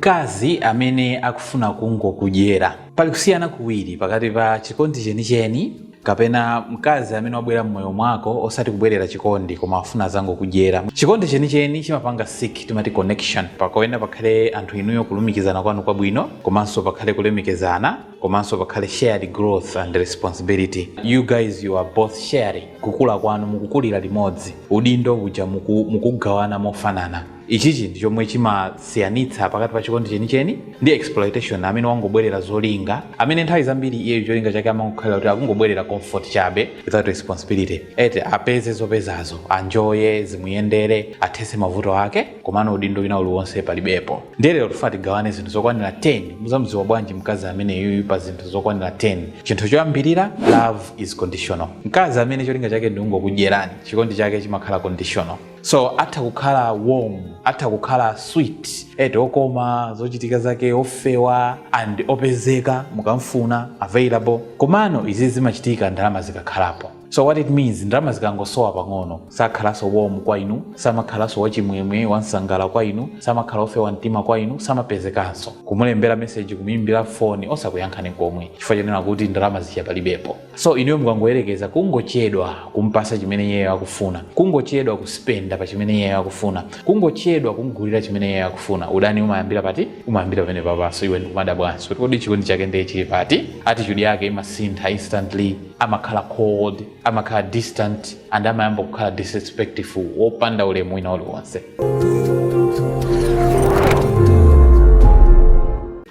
mkazi amene akufuna kungokudyera. Pali kusiyana kuwiri pakati pa chikondi chenicheni kapena mkazi amene wabwera mmoyo mwako osati kubwerera chikondi koma afuna azangokudyera. Chikondi chenicheni chimapanga seek timati connection pakuyenera pakhale anthu inuyo kulumikizana kwanu kwabwino komanso pakhale kulemekezana komanso pakhale shared growth and responsibility you guys you are both sharing kukula kwanu mukukulira limodzi udindo uja muku mukuugawana mofanana. ichichi ndi chomwe chimasiyanitsa pakati pa chikondi chenicheni ndi exploitation amene wangobwerera zolinga amene nthawi zambiri iyeyo cholinga chake amangokhalira kuti akungobwerera comfort chabe without responsibility ete apeze zopezazo anjoye zimuyendere athese mavuto ake komano udindo wina uliwonse palibepo ndiye lero tifuna tigawane zinthu zokwanira 10 muzamdziwa bwanji mkazi ameneyuyu pa zinthu zokwanira 10 chinthu choyambirira love is conditional mkazi amene cholinga chake ndi kungokudyerani chikondi chake chimakhala conditional so atha kukhala warm atha kukhala sweet eti okoma zochitika zake ofewa and opezeka mukamfuna available komano izi zimachitika ndalama zikakhalapo so what it means ndalama zikangosowa pang'ono sakhalanso warm kwa inu samakhalanso wachimwemwe wansangala kwa inu samakhala ofewa mtima kwa inu samapezekanso kumulembera meseji kumuimbira foni osakuyankhani komwe chifukwa chonena kuti ndalama zija palibepo so inuyo mukangoyerekeza kungochedwa kumpasa chimene iyeyo akufuna kungochedwa kuspenda pa chimene iyeyo akufuna kungochedwa kumgulira chimene iyeyo akufuna udani umayambira pati umayambira pamenepapa so iwe ndikumadabwanso kuti kodi chikondi chake ndiye chili pati attitude yake imasintha instantly amakhala cold amakhala distant and amayamba kukhala disrespectful wopanda ulemu wina uliwonse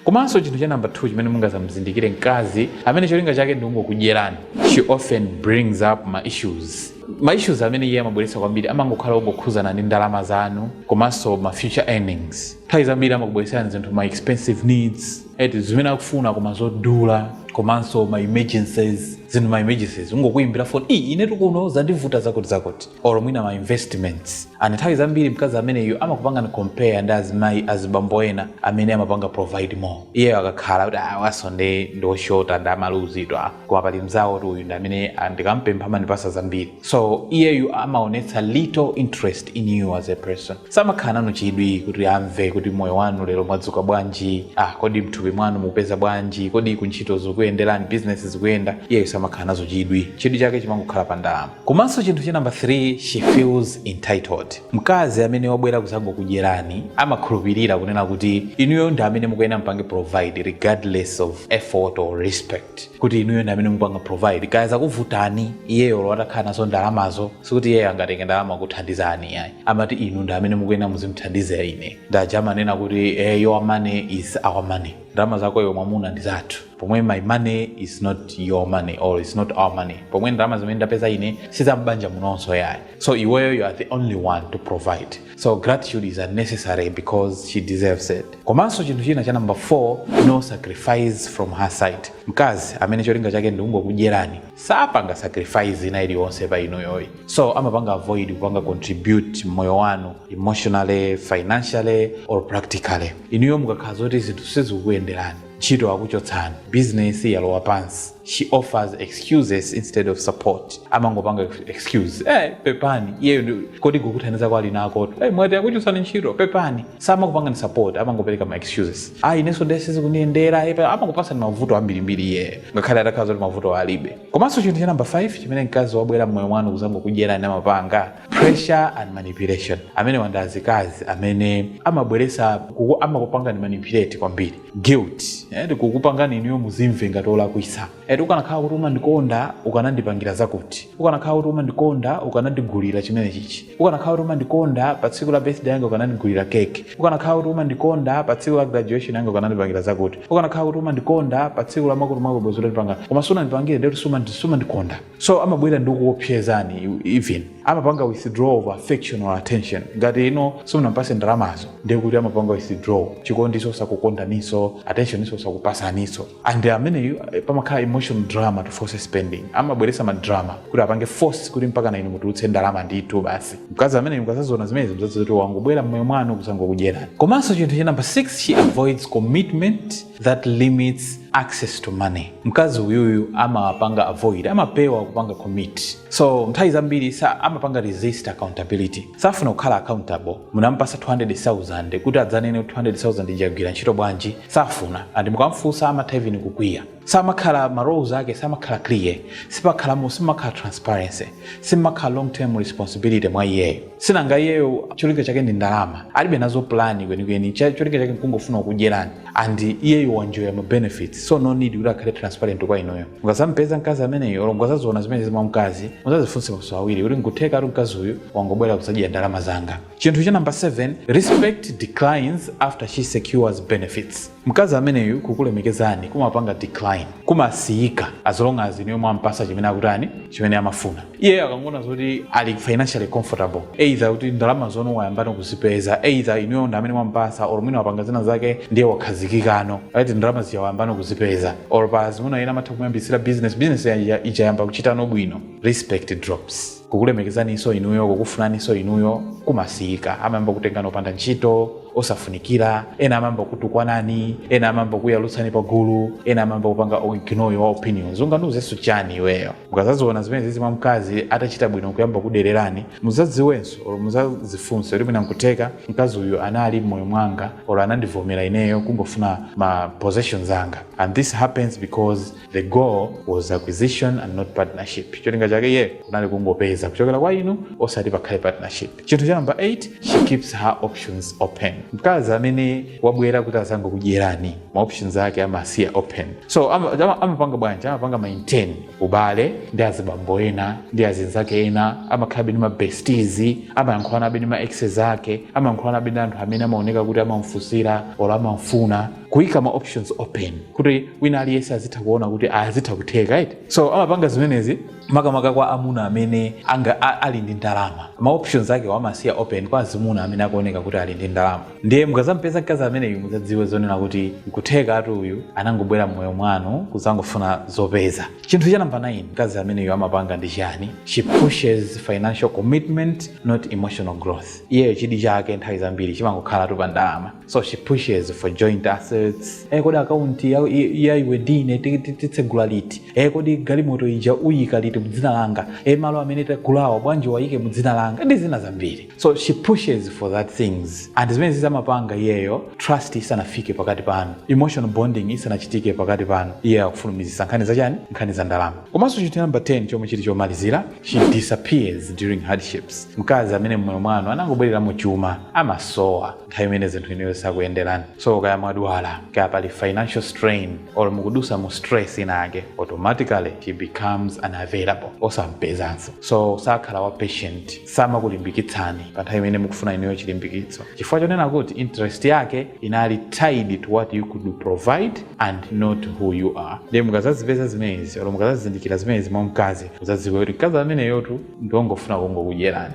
komanso chinthu cha namba 2 chimene mungazamuzindikire mkazi amene cholinga chake ndi kungokudyerani she often brings up ma issues ma issues amene iye amabweretsa kwambiri amangokhala ongokhuzana ndi ndalama zanu komanso ma future earnings nthawi zambiri amakubweretserani zinthu ma expensive needs eti zimene akufuna koma zodula komanso ma emergencies zinthu ma emergencies kungokuyimbira foni iyi inetu kuno zandivuta zakuti zakuti or mwina ma investments and nthawi zambiri mkazi ameneyu amakupangani compare ndi azimayi azibambo ena amene amapanga provide more iyeyo akakhala kuti awasonde ndi oshota ndi omaluzidwa koma pali mzawo kuti uyu ndi amene ah, ndikampempha amandipasa zambiri so iyeyu amaonetsa little interest in you as a person samakhala nanu chidwi kuti amve kuti moyo wanu lero mwadzuka bwanji ah, kodi mthupi mwanu mupeza bwanji kodi kuntchito zikuyenderani business zikuyenda iyeyu samakhala nazo chidwi chidwi chake chimangokhala pa ndalama komanso chinthu cha namba 3 she feels entitled mkazi amene wabwera kuzangokudyerani amakhulupirira kunena kuti inuyo ndi amene mukuyenera mpange provide regardless of effort or respect kuti inuyo ndi amene mupanga provide kaya zakuvutani iyeyo olo atakhala nazo ndalamazo sikuti iyeyo angatenge ndalama kuthandizani ayi amati inu ndi amene mukuyenera muzimthandiza ine ndaja amanena kuti eh, your money is our money ndalama zako iwe mwamuna ndi zathu pomwe my money is not your money or is not our money pomwe ndalama zimene ndapeza ine sizambanja munonso yayi so iweyo you are the only one to provide so gratitude is unnecessary because she deserves it komanso chinthu china cha number 4 no sacrifice from her side mkazi amene cholinga chake ndikungokudyerani sapanga sacrifice ina iliyonse pa inuyo yi so amapanga avoid kupanga contribute mmoyo wanu emotionally financially or practically inuyo mukakhala zoti zinthu sizikukuyenderani ntchito akuchotsani business yalowa pansi she offers excuses instead of support amangopanga excuse eh pepani iyeyo ndi- kodi kukuthandiza kwake ali nako eh mwati akuchotsani ntchito pepani samakupangani support amangopereka ma excuses ah inenso ndiye sizikundiyendera eh, pa- amangopasani mavuto ambirimbiri iyeyo ngakhale atakhala zoti mavuto alibe komanso chinthu cha namba 5 chimene mkazi wabwera mmoyo mwanu kuzangokudyerani amapanga pressure and manipulation amenewa ndi azikazi amene amabweresa kuku- amakupangani manipulate kwambiri guilt eh, ndi kukupangani inuyo muzimve ngati olakwisa eti ukanakhala kuti umandikonda ukanandipangira zakuti ukanakhala kuti umandikonda ukanandigulira chimene chichi ukanakhala kuti umandikonda pa tsiku la birthday yanga ukanandigulira keke ukanakhala kuti umandikonda pa tsiku la graduation yanga ukanandipangira zakuti ukanakhala kuti umandikonda pa tsiku la makolo ako bwezi utandipanga koma sunandipangire ndekuti sumandikonda so amabwera ndi kukuopsezani you- even amapanga withdraw of affection or attention ngati inu simunampase ndalamazo ndiye kuti amapanga withdraw chikondiso osakukondaninso attention iso osakupasaniso and ameneyu eh, pamakhala emotional drama to force spending amabweresa madrama kuti apange force kuti mpaka na inu mutulutse ndalama ndithu basi mkazi amene mukazazona zimenezi mzaziwe kuti wangobwera mmoyo mwanu kuzangokudyerani komanso chinthu cha namba 6 she avoids commitment that limits access to money mkazi uyuyu amapanga avoid amapewa kupanga commit so nthawi zambiri sa amapanga resist accountability safuna kukhala accountable munampasa 200000 kuti adzanene kuti 200000 ija yagwira ntchito bwanji safuna and mukamfunsa amatha even kukwiya samakhala ma roles ake samakhala clear sipakhalamo simakhala transparency simakhala long term responsibility mwa iyeyo sinanga iyeyo cholinga chake ndi ndalama alibe nazo plani kwenikweni Cha- cholinga chake nkungofuna kudyerani and iyeyo wanjoya ma benefits so no need kuti akhale transparent kwa inuyo mukazampeza mkazi ameneyo olo mukazaziona zimenezi mwa mkazi muzazifunse maso awiri kuti nkuthekatu mkazi uyu wangobwera kudzadya ndalama zanga chinthu cha namba 7 respect declines after she secures benefits mkazi ameneyu kukulemekezani kumapanga decline kumasiyika as long as inuyo mwampasa chimene akutani chimene amafuna iyeyo akangoona zoti ali financially comfortable either kuti ndalama zanu wayambano kuzipeza either inuyo ndi amene mwamupasa or mwina wapanga zina zake ndiye wakhazikikano right ndalama zija wayambano kuzipeza or pa zimuna ena amatha kumuyambitsira business business ija- ija yamba kuchitano bwino respect drops kukulemekezaniso inuyo kukufunaniso inuyo kumasiyika amayamba kutengani opanda ntchito osafunikira ena amayamba kutukwanani ena amayamba kuyalutsani pagulu ena amayamba kupanga ignore your opinions ungandiuzenso chani iweyo mukazaziona zimenezizi mwa mkazi atachita bwino nkuyamba kudererani muzadziwenso or muzazifunse kuti mwina nkutheka mkazi uyu anali mmoyo mwanga or anandivomera ineyo kungofuna ma possessions anga and this happens because the goal was acquisition and not partnership cholinga chake iye kunali kungopeza kuchokera kwa inu osati pakhale partnership Chinthu cha number 8, she keeps her options open. Mkazi amene wabwera kuti azangokudyerani ma options ake amasiya open. So amapanga amapanga bwanji? Amapanga maintain ubale ndi azibambo ena ndi azinzake ena, amakhalabe ndi ma besties, amayankhulanabe ndi ma exes ake, amayankhulanabe ndi anthu amene amaoneka kuti amamfunsira or amamfuna kuika ma options open kuti wina aliyense azitha kuona kuti azitha kutheka right. So amapanga zimenezi makamaka kwa amuna amene anga a- ali ndi ndalama ma options ake amasiya open kwa azimuna amene akuoneka kuti ali ndi ndalama ndiye mukazampeza mkazi ameneyu muzadziwe zonena kuti nkutheka ati uyu anangobwera mmoyo mwanu kuzangofuna zopeza chinthu cha namba 9 mkazi ameneyu amapanga ndi chani she pushes financial commitment not emotional growth iyeyo chidi chake nthawi zambiri chimangokhalatu pa ndalama so she pushes for joint assets eh kodi akaunti ya, ya, ya iwe ndine ti- ti- titsegula liti eh kodi galimoto ija uyika liti mudzina langa eh malo amene tagulawa bwanji uwayike mudzina langa ndi zina zambiri so she pushes for that things and zimenezi amapanga iyeyo trust isanafike pakati panu emotional bonding isanachitike pakati panu iyeyo akufulumizisa nkhani zachani nkhani za ndalama komanso chinthu namba 10 chomwe chili chomalizira she disappears during hardships mkazi amene mmoyo mwanu anangobwereramo chuma amasowa nthawi imene zinthu inuyo zisakuyenderani so kaya mwadwala kaya pali financial strain or mukudusa mu stress inayake automatically she becomes unavailable osampezanso so sakhala wa patient samakulimbikitsani pa nthawi imene mukufuna inuyo chilimbikitso chifukwa chonena kuti interest yake inali tied to what you could provide and not who you are ndiye mukazazipeza zimenezi or mukazazindikira zimenezi mwa mkazi muzadziwe kuti mkazi ameneyotu ndiwongofuna kungokudyerani